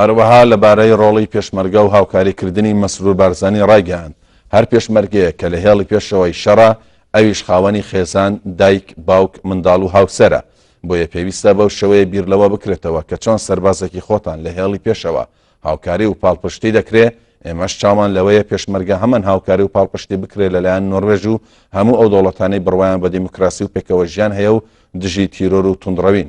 هەروەها لەبارەی ڕۆڵی پێشمەرگە و هاوکاری کردنی مەسرور بارزانی ڕایگەیاند، هەر پێشمەرگەیەک کە لە هێڵی پێشەوەی شەڕە ئەویش خاوەنی خێزان، دایک، باوک، منداڵ و هاوسەرە، بۆیە پێویستە بەو شێوەیە بیر لەوە بکرێتەوە کە چۆن سەربازێکی خۆتان لە هێڵی پێشەوە هاوکاری و پاڵپشتی دەکرێ، ئێمەش چاومان لەوەیە پێشمەرگە هەمان هاوکاری و پاڵپشتی بکرێ لەلایەن نۆروێژ و هەموو ئەو دەوڵەتانەی بڕوایان بە دیموکراسی و پێکەوەژیان هەیە و دژی تیرۆر و توندڕەوین.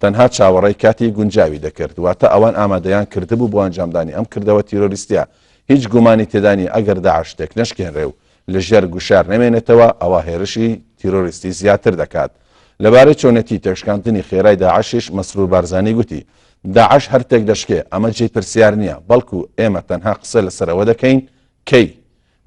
تەنها چاوەڕێی کاتی گونجاوی دەکرد، واتە ئەوان ئامادەیان کردبوو بۆ ئەنجامدانی ئەم کردەوە تیرۆریستیە، هیچ گومانی تێدا نیە ئەگەر داعش تێکنەشکێنرێ و لەژێر گوشار نەمێنێتەوە ئەوا هێرشی تیرۆریستی زیاتر دەکات. لەبارەی چۆنێتی تێکشکاندنی خێرای داعشیش مەسرور بارزانی گوتی، داعش هەر تێکدەشکێ، ئەمە جێی پرسیار نیە، بەڵکو ئێمە تەنها قسە لەسەر ئەوە دەکەین کەی؟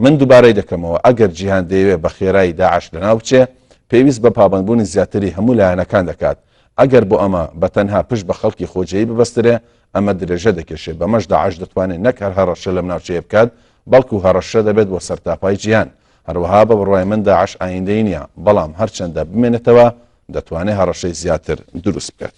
من دوبارەی دەکەمەوە ئەگەر جیهان دەیەوێت بە خێرایی داعش لەناو بچێت پێویست بە پابەندبوونی زیاتری هەموو لایەنەکان دەکات، ئەگەر بۆ ئەمە بە تەنها پشت بە خەڵکی خۆجێی ببەسترێ ئەمە درێژە دەکێشێت بەمەش داعش دەتوانێت نەک هەر هەڕەشە لەم ناوچەیە بکات بەڵکو هەڕەشە دەبێت بۆ سەرتاپای جیهان هەروەها بە بڕوای من داعش ئایندەی نییە بەڵام هەرچەندە بمێنێتەوە دەتوانێت هەڕەشەی زیاتر دروست بکات.